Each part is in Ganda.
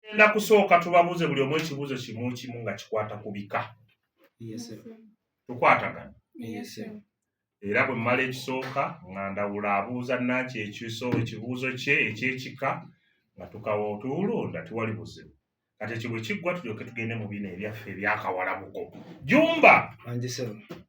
tugenda kusooka tubabuuze buli omu ekibuuzo kimu kimu nga kikwata ku bika tukwatagana era bwe mmala ekisooka nga ndawula abuuza naki ekiso ekibuuzo kye ekyekika nga tukawa otuwulunda tiwali buzibu kati ekyo bwe kiggwa tulyoke tugende mu bino ebyaffe ebyakawalabuko jumba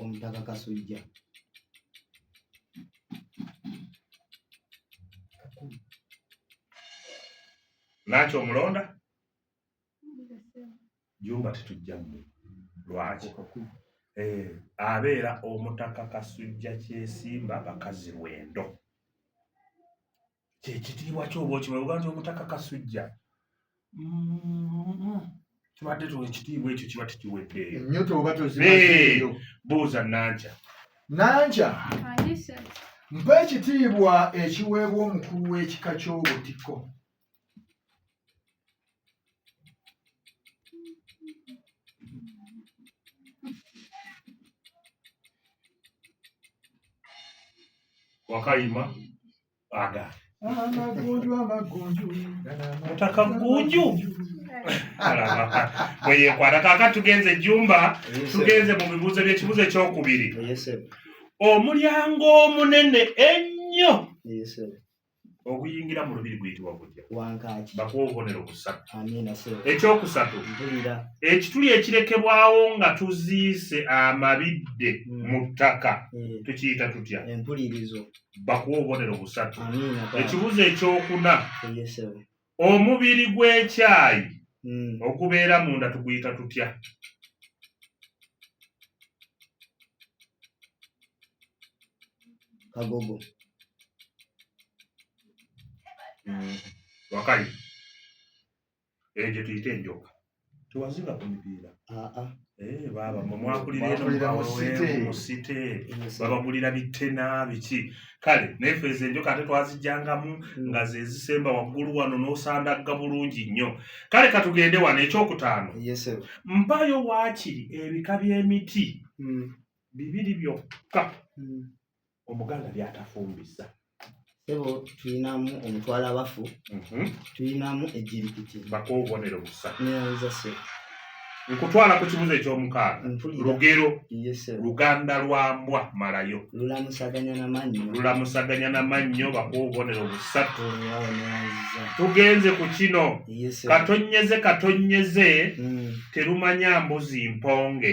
omutaka kasujja lwaki omulonda jumba tetujjamu lwaki eh, abeera omutaka kasujja kyesimba bakazi lwendo kyekitiibwa kyoba okimanyi oga nti omutaka kasujja mm-hmm. tubadde tu ekitiibwa ekyo kiba tekiweddeeyo nyo toba tozimazeeyo buuza nankya nankya mpa ekitiibwa ekiweebwa omukulu w'ekika ky'obutiko wakayima aga amagunju amagunju mutaka gunju bweyekwata kaka tugenze jumba tugenze mu bibuuzo byekibuuzo ekyokubiri omulyango omunene ennyo oguyingira mu lubiri guyitibwa gutya bakuwa obubonero busatu ekyokusatu ekituli ekirekebwawo nga tuziise amabidde mm. mu ttaka mm. tukiyita tutya bakuwa obubonero busatu ekibuzo ekyokuna omubiri gw'ekyayi hmm. ogubeera munda tuguyita tutya kagogo hmm. wakali eyo gye tuyita enjoka tewazinga ku mipiira ah, ah. eh, baaba mwakulira eno mu site babagulira bitena biki kale naye fe ezo enjoka ate twazijjangamu hmm. nga zezisemba waggulu wano n'osandagga bulungi nnyo kale katugende wano ekyokutaano mpayo waakiri ebika by'emiti hmm. bibiri byokka hmm. omuganda byatafumbisa sebo tulinamu omutwalo abafu mhm. tulinamu ejirikiti bako obubonero busa neza se nkutwala ku kibuzo ekyomukaaga lugero luganda lwa mbwa malayo lulamusaganya na mannyo lulamusaganya na mannyo bako obubonero busatu tugenze ku kino katonyeze katonyeze mm. terumanya mbuzi mponge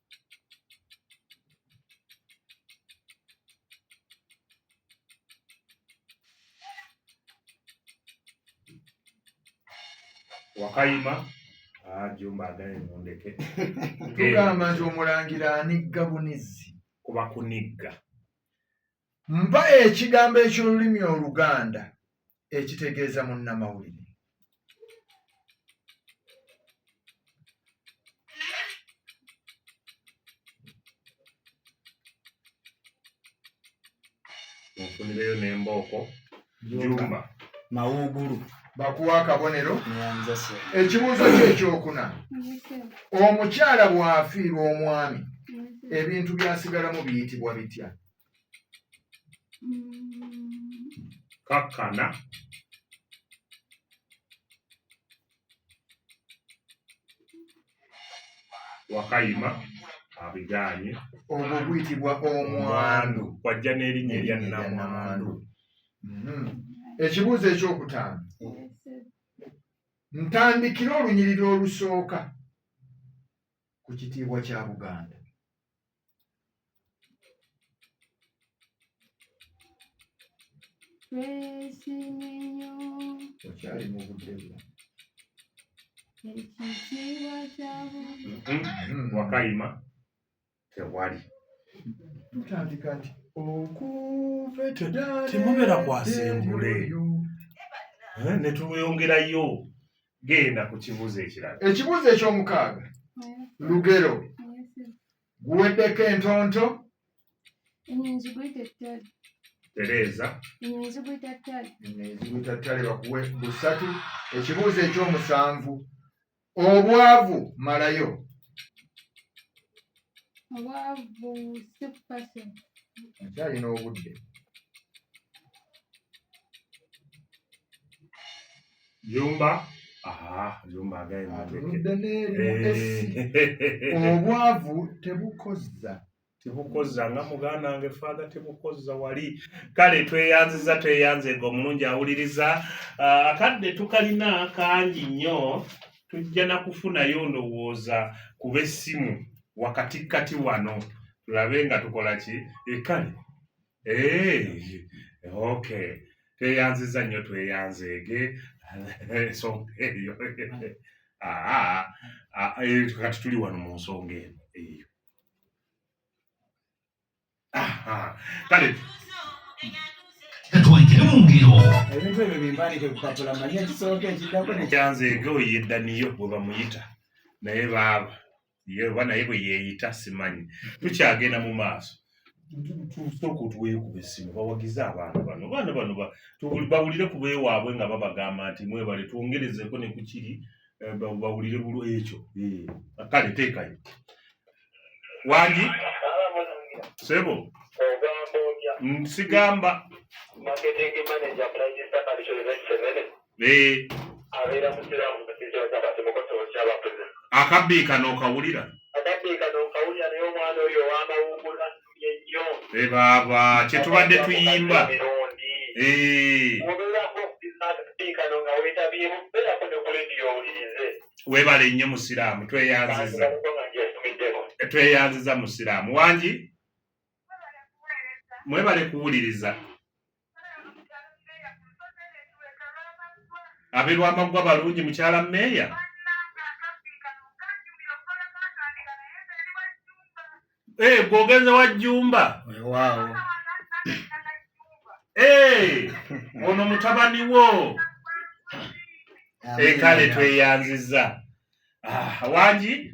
wakayima ah, jumba agaye mundeke tugamba nti omulangira anigga bunizzi kuba kunigga mpa ekigambo eky'olulimi oluganda ekitegeeza munnamawulire nfunireyo nembooko jumba mawugulu bakuwa akabonero ekibuuzo kyekyokuna omukyala bw'afiirwa omwami ebintu byasigalamu biyitibwa bitya kakkana wakayima abigaanye ogwo guyitibwa omwandu kwajja n'erinnya erya namwandu mhm. ekibuuzo ekyokutaano ntandikire olunyiriri olusooka ku kitiibwa kya buganda Twesiminyo. Okyali mu budde bwo. Ekitiibwa kya mm-hmm. Wakayima tewali. Tutandika nti okuvetera temubeera kwasembule eh, ne tulweyongerayo genda ku kibuuzo ekirala ekibuuzo ekyomukaaga lugero guweddeko entonto tereeza ezigutattale bakuwe busatu ekibuuzo ekyomusanvu obwavu malayo akyalina obudde Jumba obwavu tebukozza tebukozza nga muganda wange faatha tebukozza wali kale tweyanziza tweyanze nga omulungi awuliriza ah, akadde tukalina kangi nnyo tujja na kufunayo ndowooza kuba essimu wakatikkati wano tulabe nga tukola ki ekale eh, Hey, okay. Tweyanziza nnyo tweyanzeege ensonga eyo ah, ah, eh, kati tuli wano mu nsonga eno eyo kale twayitire mu ngero ebintu ebyo bimbandike kupapula manya ekisooka ekiddako nekyanzeege oyedda niyo bwe bamuyita naye baaba ye oba naye bwe yeeyita simanyi tukyagenda mu maaso tusooka otuweekuba essimu bawagize abaana bano abaana bano bawulire ku beewaabwe nga babagamba nti mwebale twongerezeeko ne ku kiri eh, bawulire bulu ekyo eh, kale teekayo wangi sebo nsigamba Eh. akabbiika n'okawulira eh, baaba kyetubadde tuyimba eh. webale nnyo musiraamu tweyanziza tweyanziza musiraamu wangi mwebale kuwuliriza Ab'e Lwamaggwa balungi mukyala meeya? Eh, gwe ogenze wa Jjumba? Weewaawo. Eh, ono mutabani wo. E kale tweyanzizza. Ah, wangi?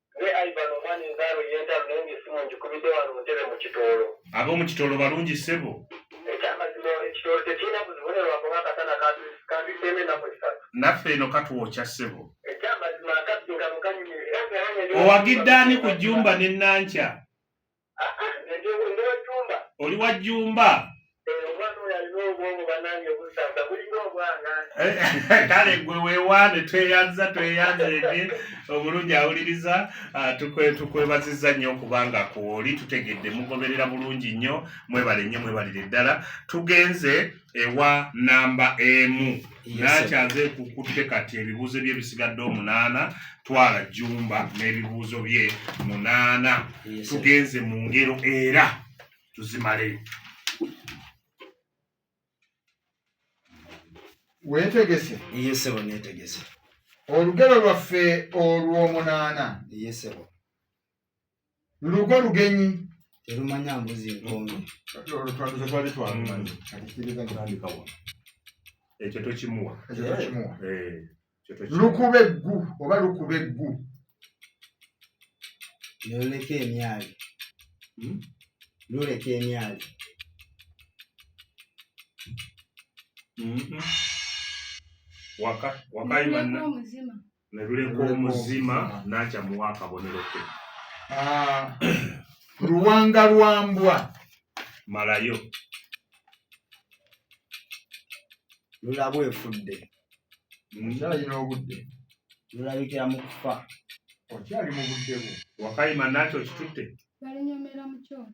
Ab'omu Kitoolo balungi ssebo? Naffe eno katwokya ssebo. Owagidde ani ku jjumba ne Nankya? oli wa jjumba kale gwe wewaane tweyanza tweyanza ege obulungi awuliriza ah, tukwebaziza nnyo okubanga kwoli tutegedde mugoberera bulungi nnyo mwebale nnyo mwebalire ddala tugenze ewa namba emu nakyaze kukutte kati ebibuuzo bye bisigadde omunaana twala jumba n'ebibuuzo bye munaana tugenze mu ngero era tuzimaleyo wetegese yesebo netegese olugero lwaffe olw'omunaana yesebo lugo lugenyi terumanya mbuzi nkomi ekyo tokimuwa lukuba eggu oba lukuba eggu noleka emyali hmm? luleka emyali mm-hmm. wakayi ne luleka omuzima n'akyamuwa akabonero ke ah, luwanga lwa mbwa malayo lulabu efudde nkyalina obudde lulabikira mu kufa okyali mu budde bwo wakayima nakyo kitutte balinyomera mu kyoto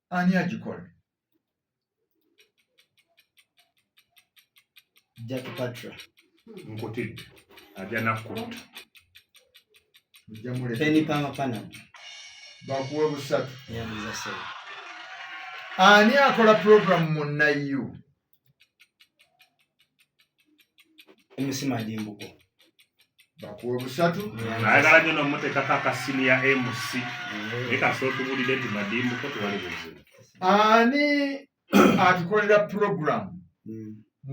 ani agikola jack patra nkutidde ajja nakutta bakuwe busatu ani akola programu mu nayu emisima gy'embugo bakuwa busatu ayagala nyo nomutekako akasini ya mc naye kasooka otubulire nti madimbuko tewali buzibu ani atukolera puroguramu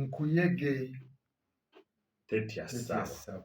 nkuyege tetya sawa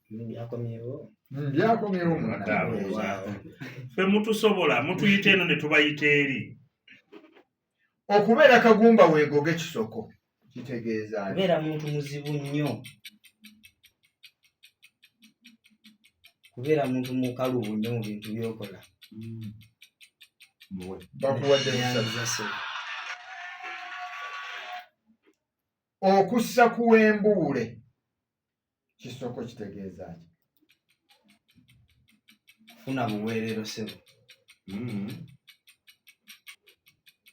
byakomyewo ffe mutusobola mutuyita eno ne tubayita eri okubeera kagumba weegoge kisoko kitegeeza kubeera muntu muzibu nnyo kubeera muntu mukalubu nnyo mu bintu byokola mm. bakuwadde okussa kuwembuule kisoko kitegeeza ki kufuna buweerero sebo mm-hmm.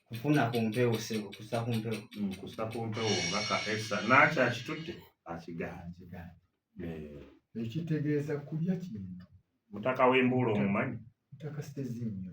kufuna ku mpewo sebo kusa ku mpewo mm, kusa ku mpewo nga ka esa naaki akitutte akigaana eh. ekitegeeza kulya kintu mutaka w'embuula omumanyi mutaka sitezinnyo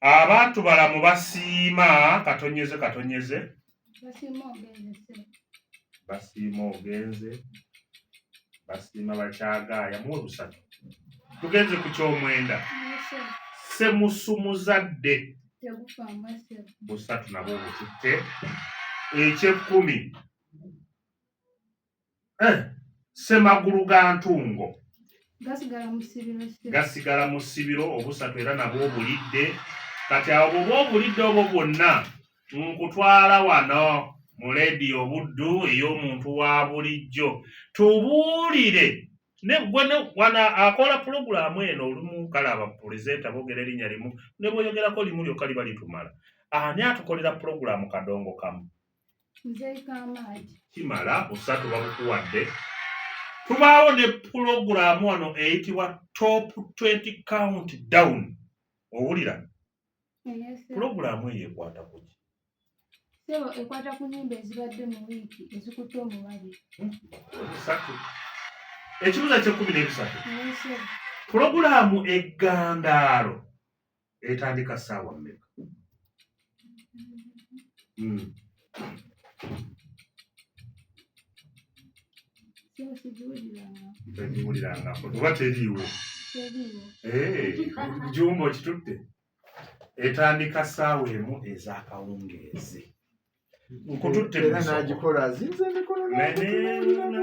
abantu balamu basiima katonyeze katonyeze basiima ogenze basiima bakyagaaya mu olusatu tugenze ku kyomwenda semusumuzadde busatu nabwo obututte ekyekkumi eh, semagulu ga ntungo gasigala mu ssibiro obusatu era nabwo obulidde kati awo bwoba obulidde obwo bwonna nkutwala wano mu leediyo obuddu ey'omuntu wa bulijjo tubuulire negwana akola pulogulaamu eno olumu kale abapulezenta boogera erinnya limu ne bweyogerako limu lyokka liba litumala ani atukolera pulogulaamu kadongo kamu kimala busatu babukuwadde tubaawo ne pulogulaamu wano eyitibwa top 20 count down owulira pulogulaamu eyo ekwata kuki sebo ekwata ku nyimba ezibadde mu wiiki ezikutte omubabi bisatu ekibuza kyekumi n'ebisatu pulogulaamu eggandaalo etandika saawa mmeka hmm. tegiwulirangako oba teriiwo jumba okitutte etandika saawa emu ez'akawungeezi nkututtenagikola azinza emikono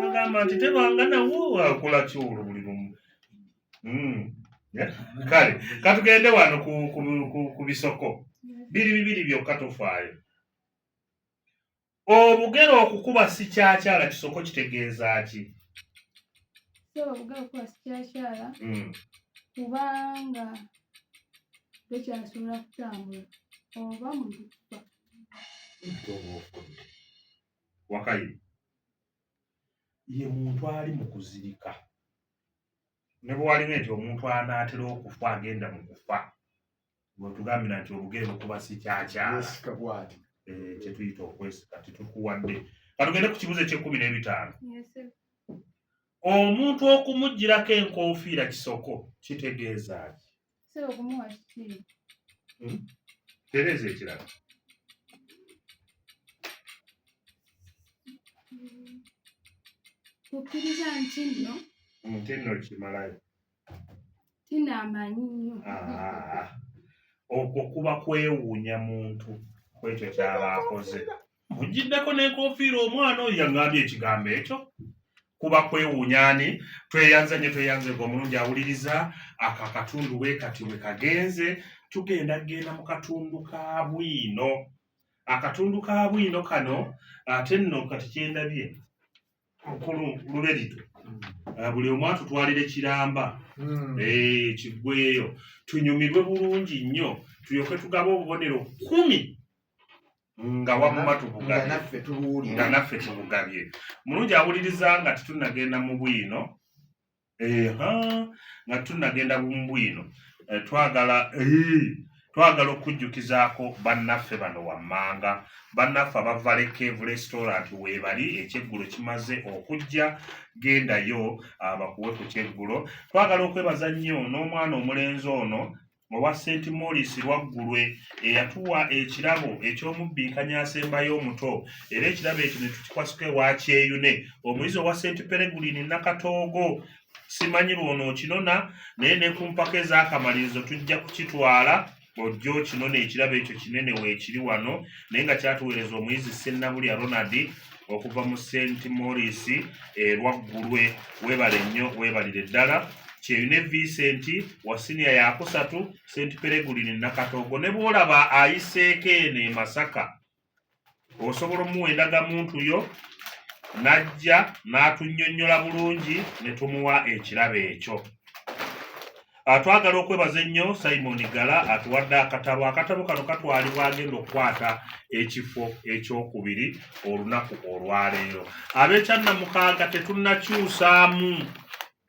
nagamba nti tebanga nawo akola kiwulo buli lumu hmm. kale katugende wano ku bisoko biri bibiri byokka tofaayo obugere okukuba sikyakyala kisoko kitegeeza ki hmm. kubanga tekyasobola kutambula oba mukufa wakayi ye muntu ali mu kuzirika ne bwe waliwo nti omuntu anaatera okufa agenda mu kufa bwetugambira nti obugere bukuba si kyakyalasika bwati eh, kyetuyita okwesika tetukuwadde katugende ku kibuzo ekyekumi n'ebitaano omuntu okumugjirako enkofiira kisoko kitegeeza ki Sebo kumuwa kiki? Hmm? Tereza ekirala. Kukkiriza nti nno. Hmm, nti nno kimalayo. Tina amanyi nnyo. Ah, okwo kuba kwewuunya muntu kwekyo kyaba akoze. Mujjiddeko n'enkofiira omwana oyo yaŋŋambye ekigambo ekyo kuba kwewuunya ani tweyanza nnyo tweyanze gwe omulungi awuliriza ako akatundu bwe kati bwe kagenze tugenda kugenda mu katundu ka bwino akatundu ka bwino kano ate nno kati kyendabye mukulu luberito eh, buli omu atutwalire kiramba hmm. eh, kiggweyo tunyumirwe bulungi nnyo tulyoke tugabe obubonero kumi nga wamuma tubugabyinga naffe tubugabye mulungi awuliriza nga titunagenda mu bwino eha nga tunagenda mu bwino eh, twagala eh, twagala okujjukizaako bannaffe bano wammanga bannaffe abavale cave restaurant weebali ekyeggulo kimaze okujja gendayo abakuwe ah, ku kyeggulo twagala okwebaza nnyo n'omwana omulenzi ono owa St Maurice Lwaggulwe eyatuwa ekirabo eky'omubbinkanya asembayo omuto era ekirabo ekyo ne tukikwasuka ewa Kyeyune omuyizi owa St Peregurini Nakatoogo simanyi lwono okinona naye ne ku mpaka ez'akamalirizo tujja kukitwala ojja okinona ekirabo ekyo kinene weekiri wano naye nga kyatuweereza omuyizi Sennabulya Ronald okuva mu st morris erwaggulwe eh, webale nnyo webalire ddala kyeyune vincent wa siniya yakusatu st peregulini nakatogo ne bwolaba ayiseeko eno e masaka osobola omuwa endagamuntu yo n'ajja n'atunnyonnyola bulungi ne tumuwa ekirabo ekyo Ah, twagala okwebaza ennyo simon gala atuwadde akatabo akatabo kano katwalibwa agenda okukwata ekifo ekyokubiri olunaku olwaleero abekyanamukaaga tetunakyusaamu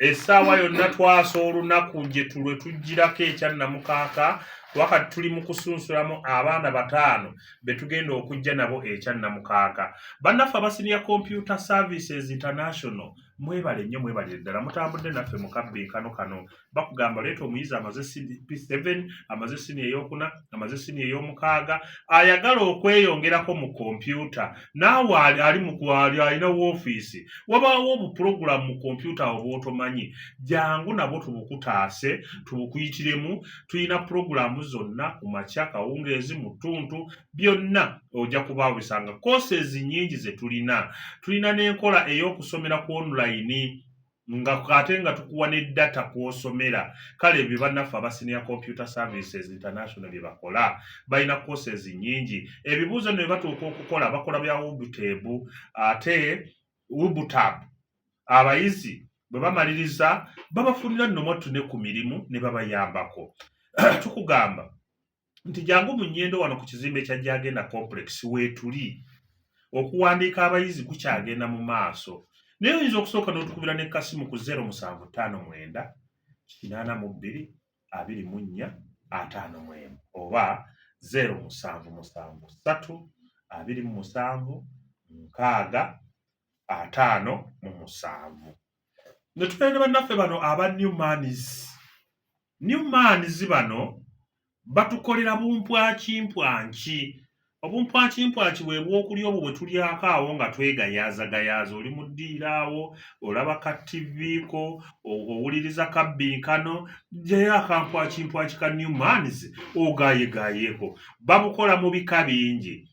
essaawa yonna twasa olunaku gyetulwe tugirako ekyanamukaaga wakati tuli mu kusunsulamu abaana bataano be tugenda okujja nabo ekyanamukaaga bannaffe abasiniya computer services international mwebale nnyo mwebalire ddala mutambudde naffe mu kabbinkano kano bakugamba leeta omuyizi amaze p7 amaze sini eyokuna amaze sini eyomukaaga ayagala okweyongerako mu kompyuta naawe ali mukwali alina woofiisi wabaawo obupulogulamu mu kompyuta awo bwotomanyi jangu nabwo tubukutaase tubukuyitiremu tulina pulogulamu zonna ku makya kawungeezi mu ttuntu byonna ojja kuba obisanga courses nyingi ze tulina tulina n'enkola ey'okusomera ku online nga ate nga tukuwa ne data kw'osomera kale ebyo bannaffe aba senior computer services international bye bakola balina courses nyingi ebibuuzo nno bye batuuka okukola bakola bya wubuteebu ate wubutab abayizi bwe bamaliriza babafunira nno mwattu ne ku mirimu ne babayambako tukugamba nti jangu mu nyendo wano ku kizimbe kya gyagenda complex weetuli okuwandiika abayizi kukyagenda mu maaso naye oyinza okusooka n'otukubira ne kasimu ku 0 musanvu ttaano mwenda kinaana mu bbiri abiri mu nnya ataano mu emu oba 0 musanvu musanvu ssatu abiri mu musanvu nkaaga ataano mu musanvu ne tubeera ne bannaffe bano aba new manis new manis bano batukolera bumpwakimpwanki obumpwakimpwaki bwe bwokulya obwo bwe tulyako awo nga twegayaazagayaaza oli mu ddiiro awo olaba ka ttiviiko owuliriza kabbinkano jayo akampwakimpwaki ka new manis ogayegayeeko babukola mu bika bingi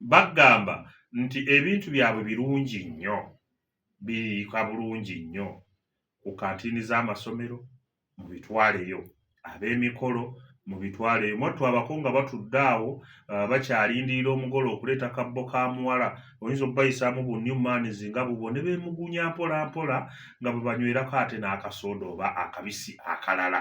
bagamba nti ebintu byabwe birungi nnyo biriika bulungi nnyo ku kantiini z'amasomero mu bitwaleyo ab'emikolo mu bitwaleyo mwattu abako nga batudde awo uh, bakyalindirira omugole okuleeta kabbo ka muwala oyinza okubayisaamu bu new mans nga bubwo ne beemugunya mpola mpola nga bwe banywerako ate n'akasooda oba akabisi akalala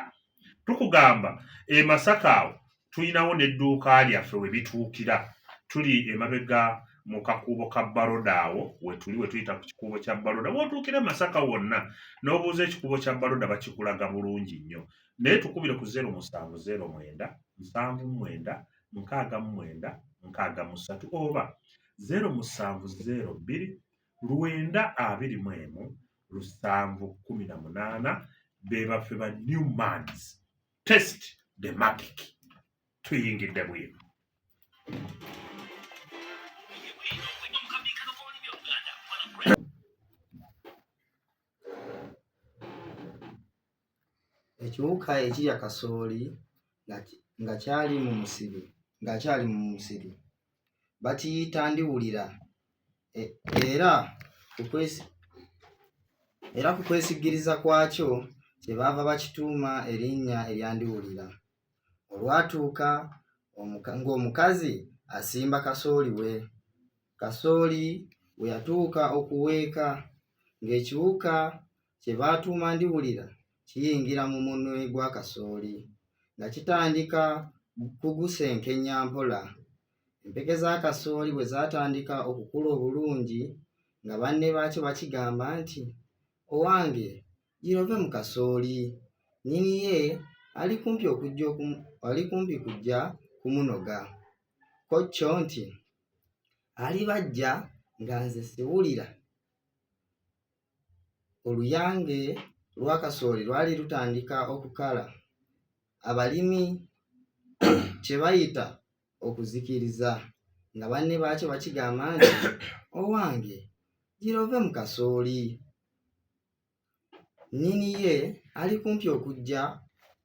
tukugamba e masaka awo tulinawo n'edduuka lyaffe we bituukira tuli emabega mu kakuubo ka baroda awo wetuli wetuyita ku kikuubo kya baroda wotuukira masaka wonna n'obuuza ekikuubo kya baroda bakikulaga bulungi nnyo naye tukubire ku zero musanvu zero mwenda nsanvu mwenda nkaaga mwenda nkaaga musatu oba zero musanvu zero bbiri lwenda abiri mu emu lusanvu kumi na munaana be baffe ba new mans test the magic tuyingidde bwino ekiwuka ekirya kasooli nga kyali mu musiri nga kyali mu musiri bakiyita ndiwulira e, era era ku kwesigiriza kwakyo kye baava bakituuma erinnya erya ndiwulira olwatuuka ng'omukazi asimba kasooli we kasooli we yatuuka okuweeka ng'ekiwuka kye baatuuma ndiwulira kiyingira mu munwe gwa kasooli nga kitandika kugusenkenya mpola. Empeke za kasooli bwe zaatandika okukula obulungi nga banne baakyo bakigamba nti, Owange girove mu kasooli, nnyini ye ali kumpi okujja ali kumpi kujja kumunoga. Ko kyo nti, Alibajja nga nze siwulira. oluyange lwa kasooli lwali lutandika okukala abalimi kye bayita okuzikiriza nga banne baakyo bakigamba nti owange gira ove mu kasooli nnyini ye ali kumpi okujja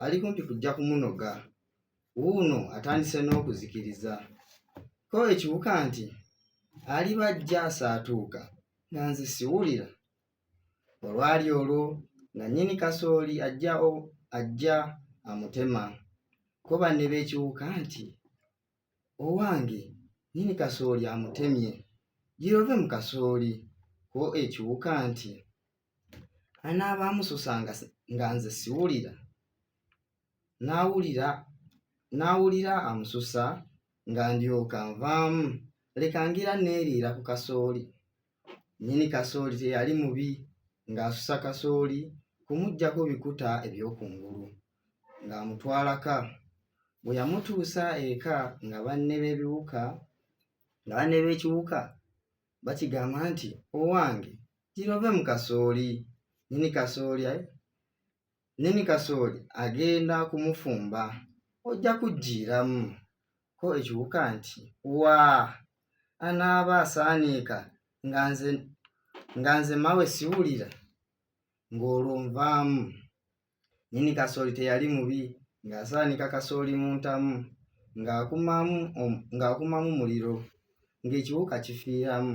ali kumpi kujja kumunoga wuuno atandise n'okuzikiriza ko ekiwuka nti aliba ajja asaatuuka nga nze siwulira olwali olwo nga nnyini kasooli ajja ajja amutema ko banne b'ekiwuka nti owange nnyini kasooli amutemye girove mu kasooli ko ekiwuka nti anaaba amususa nga nze siwulira n'awulira n'awulira amususa nga ndyoka nvaamu leka ngira neeriira ku kasooli nyini kasooli teyali mubi ng'asusa kasooli kumuggyako bikuta eby'okungulu ng'amutwalaka bwe yamutuusa eka nga banne b'ebiwuka nga banne b'ekiwuka bakigamba nti owange girove mu kasooli nyini kasooli Nnyini kasooli agenda kumufumba ojja kujjiiramu ko ekiwuka nti waa anaaba asaaniika nga nze nga nze mawe siwulira ng'olwo nvaamu nnyini kasooli teyali mubi ng'asaanika kasooli mu ntamu ng'akumamu ng'akumamu muliro ng'ekiwuka kifiiramu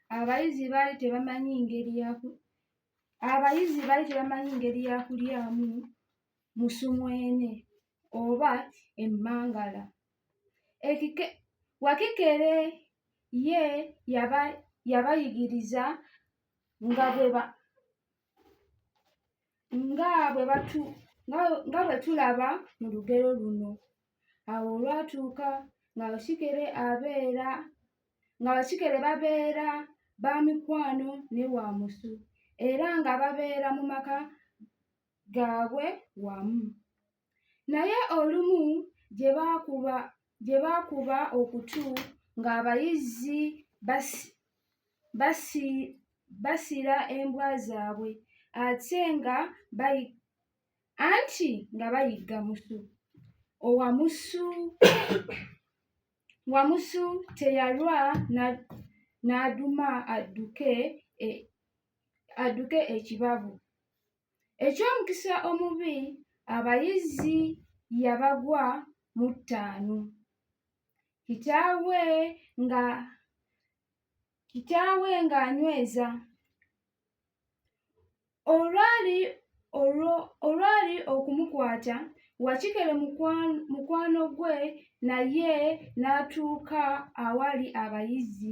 abayizi baali tebamanyi ngeri ya abayizi baali tebamanyi ngeri ya kulyamu musumwene oba emmangala ekike wakikere ye yaba yabayigiriza nga bwe ba nga bwe batu nga bwe tulaba mu lugero luno awo olwatuuka nga basikere abeera nga basikere babeera ba mikwano ne wa musu era nga babeera mu maka gaabwe wamu Naye olumu gye baakuba gye baakuba okutu ng'abayizzi basi, basi, basira embwa zaabwe ate nga bayi, anti nga bayigga musu owamusu wamusu teyalwa n'aduma adduke e, adduke ekibabu. Eky'omukisa omubi abayizi yabagwa mu ttaano kitaawe nga kitaawe ng'anyweza olwali olwali okumukwata wakikere mukwano gwe naye n'atuuka awali abayizi.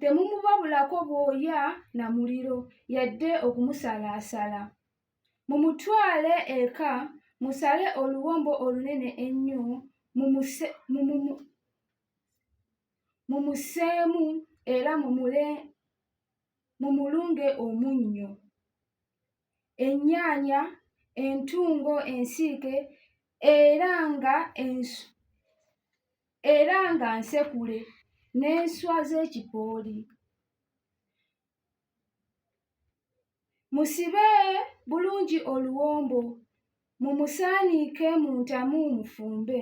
temumubabulako bwoya na muliro yadde okumusalaasala mumutwale eka musale oluwombo olunene ennyo mumuseemu era mumulunge omunnyo ennyaanya entungo ensiike era nga ensu era nga nsekule n'enswa z'ekipooli musibe bulungi oluwombo mumusaaniike mu ntamu mufumbe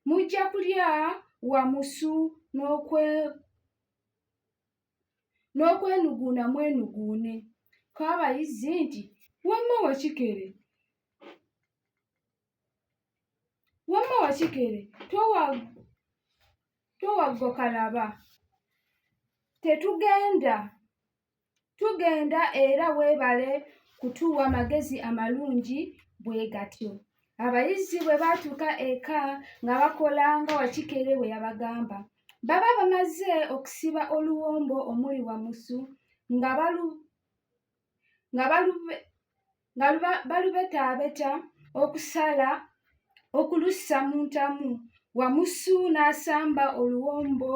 mujja kulya wamusu n'okwenuguuna mwenuguune ko abayizzi nti wamma wakikere Wamma wakikere towaggo kalaba tetugenda tugenda era weebale kutuwa magezi amalungi bwe gatyo abayizi bwe baatuuka eka nga bakola nga wakikere bwe yabagamba baba bamaze okusiba oluwombo omuli wamusu nga balu nga balubetaabeta okusala okulussa mu ntamu Wamusu n'asamba oluwombo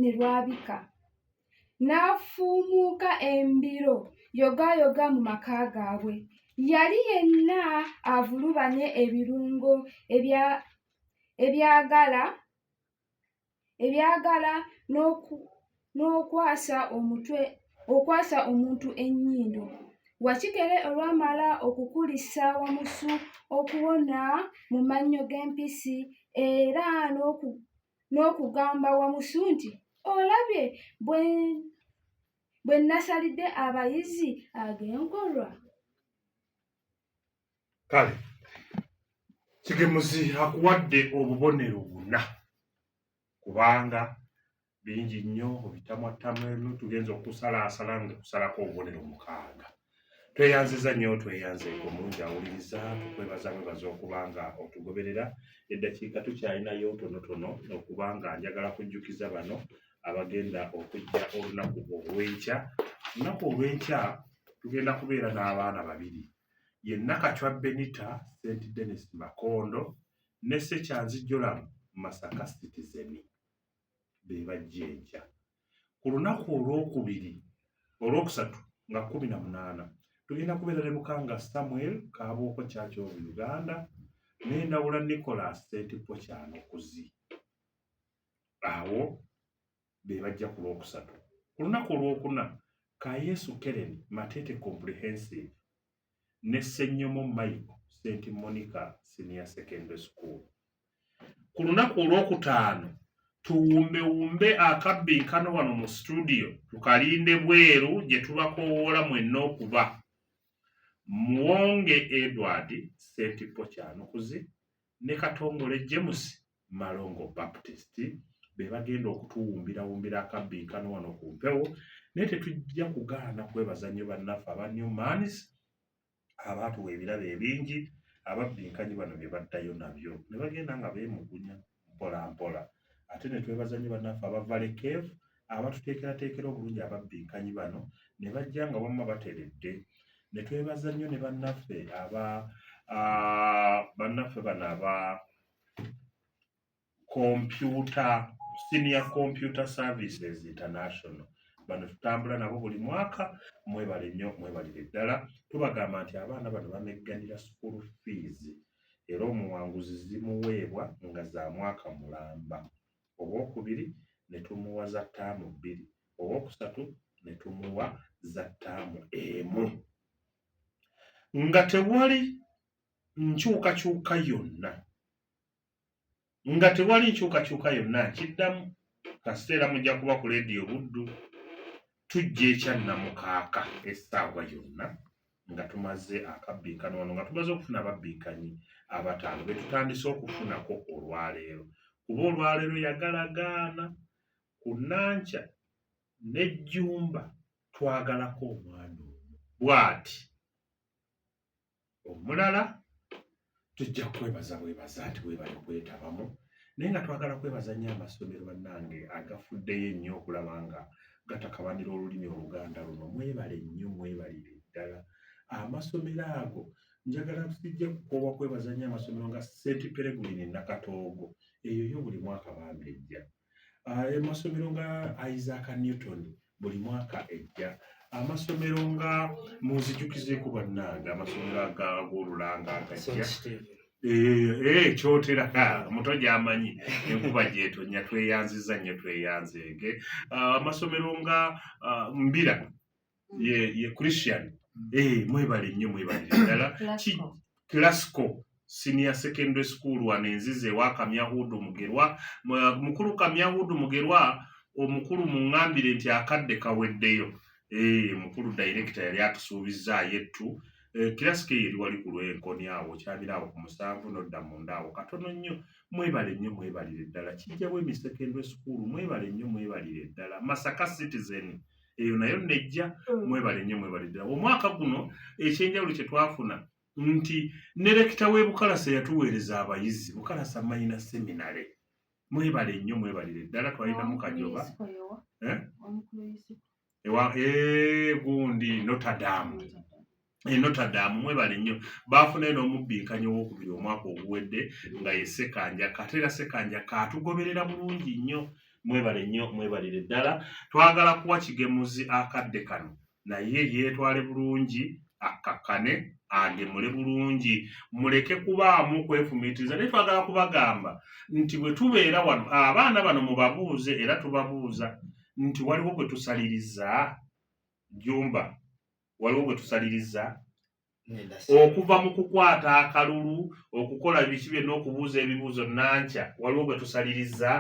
ne lwabika n'afuumuuka embiro yogaayoga mu maka gaabwe yali yenna avulubanye ebirungo ebyagala ebyagala n'okwasa omutwe okwasa omuntu ennyindo wakikere olwamala okukulisa wamusu okuwona mu mannyo g'empisi era n'okugamba wamusu nti olabye bwe nasalidde abayizi ag'enkolwa kale kigemuzi akuwadde obubonero buna kubanga bingi nnyo obitamwattamu tugenza okusalaasala nga kusalako obubonero mukaaga tweyanziza nnyo tweyanzeeko mungi awuliriza tukwebaza mwebaza okuba nga otugoberera eddakiika tukyalinayo tonotono okuba nga njagala kujjukiza bano abagenda okujja olunaku olwenkya olunaku olwenkya tugenda kubeera n'abaana babiri ye Nakachwa Benita St Denis Makondo ne Sekyanzi Joram Masaka Citizen be bajja enkya ku lunaku olwokubiri olwokusatu nga kumi na munaana tugenda kubeera ne Lukanga Samuel Kabooko Church of Uganda ne Ndawula Nicholas Sentippo Kyanokuzi awo be bajja ku lwokusatu ku lunaku olwokuna ka yesu kereni matete comprehensive ne ssenyomo maiko st monica senior secondary school ku lunaku olwokutaano tuwumbewumbe akabbinkano wano mu situdiyo tukalinde bweru gye tubakowoola mwenna okuba muwonge edward st pokyanukuzi ne katongole james Malongo Baptist be bagenda okutuwumbirawumbira akabbinkano wano ku mpewo naye tetujja kugaana kwebaza nnyo bannaffe aba New Mans abaatuwa ebirabo ebingi ababbinkanyi bano bye baddayo nabyo ne bagenda nga beemugunya mpola mpola ate ne twebaza nnyo bannaffe aba Valley Cave abatuteekerateekera obulungi ababbinkanyi bano ne bajja nga wamma bateredde ne twebaza nnyo ne bannaffe aba ah, bannaffe bano aba computer senior computer services international bano tutambula nabo buli mwaka mwebale nnyo mwebalire ddala tubagamba nti abaana bano bamegganira school fees era omuwanguzi zimuweebwa nga za mwaka mulamba owokubiri ne tumuwa za ttaamu bbiri owokusatu ne tumuwa za ttaamu emu nga tewali nkyukakyuka yonna nga tewali nkyukakyuka yonna nkiddamu kasita era mujja kuba ku leediyo buddu tujja ekyannamukaaka essaawa yonna nga tumaze akabbinkano wano nga tumaze okufuna ababbinkanyi abataano be tutandise okufunako olwaleero kuba olwaleero yagalagaana ku nankya n'ejjumba twagalako omwana omu bw'ati omulala tujja kwebaza bwebaza nti webale kwetabamu naye nga twagala kwebaza nnyo amasomero bannange agafuddeyo ennyo okulaba nga gatakabanira olulimi oluganda luno mwebale nnyo mwebalire ddala amasomero ago njagala sijja kukoowa kwebaza nnyo amasomero nga st pereguline nakatoogo eyo yo buli mwaka bambi ejja amasomero ah, nga isaac newton buli mwaka ejja amasomero nga munzijukizeeko bannange amasomero agagolulanga agajja ekyotera eh, eh, muto gyamanyi enkuba gyetonya tweyanziza nnyo tweyanzeege ah, amasomero nga ah, mbira ye ye christian mm. eh mwebale nnyo mwebale ddala klasiko senior secondary school wano enzize wa kamyahudu mugerwa mukulu kamyahudu mugerwa omukulu muŋambire nti akadde kaweddeyo eh mukulu director yali atusuubizza yettu eh, klasiko eyo eri wali ku lwenkoni awo kyabira awo ku musanvu nodda munda awo katono nnyo mwebale nnyo mwebalire ddala kijjawo emi secondary school mwebale nnyo mwebalire ddala masaka citizen mm. eyo nayo nejja mm. mwebale nnyo mwebale ddala omwaka guno ekyenjawulo kye twafuna nti ne lekita w'e bukalasa yatuweereza abayizi bukalasa mayina seminale mwebale nnyo mwebalire ddala twalinamu kajoba eh? ewa eh, gundi notadamu e Notre Dame mwebale nnyo baafunayo n'omubbinkanyi owokubiri omwaka oguwedde nga ye Sekanja kate era Sekanja kaatugoberera bulungi nnyo mwebale nnyo mwebalire ddala twagala kuwa kigemuzi akadde kano naye yeetwale bulungi akkakkane agemule bulungi muleke kubaamu kwefumiitiriza naye twagala kubagamba nti bwe tubeera wano abaana bano mubabuuze era tubabuuza nti waliwo gwe tusaliriza jumba waliwo bwe tusaliriza okuva mu kukwata akalulu okukola biki byonna okubuuza ebibuuzo nankya waliwo bwe tusaliriza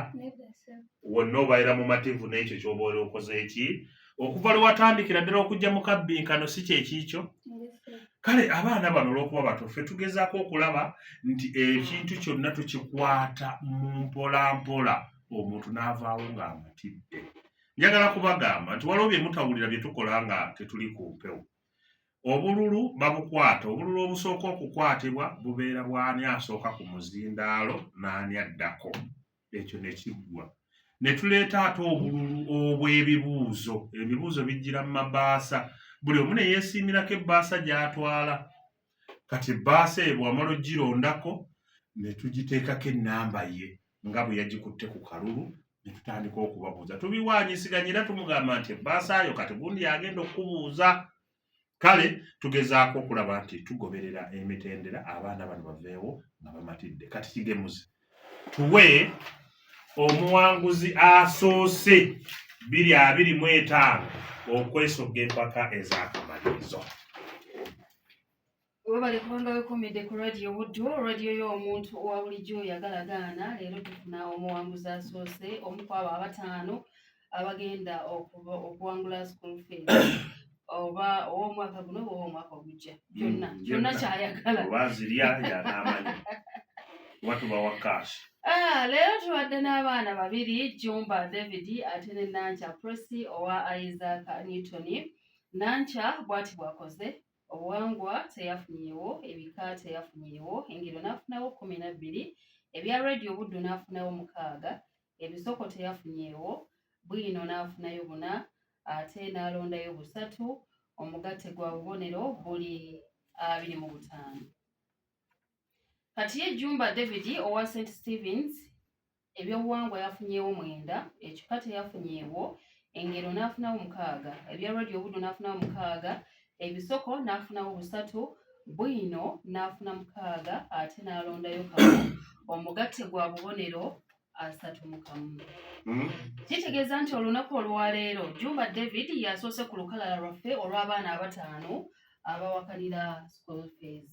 wonna obaira mumativu n'ekyo kyoba oli okoze eki okuva lwe watandikira ddala okujja mu kabbinkano si kyekiikyo kale abaana bano olwokuba batufe tugezaako okulaba nti ekintu kyonna tukikwata mu mpolampola omuntu n'avaawo ng'amatidde njagala kubagamba nti waliwo bye mutawulira bye tukola nga tetuli ku mpewo obululu babukwata obululu obusooka okukwatibwa bubeera bw'ani asooka ku muzindaalo n'ani addako ekyo ne kiggwa ne tuleeta ate obululu obw'ebibuuzo ebibuuzo bijjira mu mabaasa buli omu ne yeesiimirako ebbaasa gy'atwala kati ebbaasa eyo bwamala ogirondako ne tugiteekako ennamba ye nga bwe yagikutte ku kalulu ne tutandika okubabuuza tubiwaanyisiganya era tumugamba nti ebbaasa yo kati gundi yagenda okukubuuza kale tugezaako okulaba nti tugoberera emitendera abaana bano baveewo nga bamatidde kati kigemuze tuwe omuwanguzi asoose biri abiri mu etaano okwesogga empaka ez'akamalirizo webale kubanga wekomedde ku radio buddu radio y'omuntu owa bulijjo oyagalagaana leero tufuna omuwanguzi asoose omu kwabo abataano abagenda okuwangula school fees oba ow'omwaka guno oba ow'omwaka ogujja mm, kyonna kyonna kyayagala oba zirya yanaamanyi oba tubawa kaasi ah, leero tubadde n'abaana babiri jumba david ate ne nankya prosi owa isaac newton nankya bwati bwakoze obuwangwa teyafunyewo ebika teyafunyewo engero n'afunawo kumi na bbiri ebya radio buddu n'afunawo mukaaga ebisoko teyafunyeewo bwino n'afunayo buna ate n'alondayo busatu omugatte gwa bubonero buli abiri mu butaano kati ye jumba david owa st stevens ebyobuwangwa yafunyeewo mwenda ekika teyafunyeewo engero n'afunawo mukaaga ebya rodi obuddo n'afunawo mukaaga ebisoko n'afunawo busatu bwino n'afuna mukaaga ate n'alondayo kamu omugatte gwa bubonero asatu mu kamu hmm? kitegeeza nti olunaku olwaleero jumba david yasoose ku lukalala lwaffe olw'abaana abataano abawakanira school fees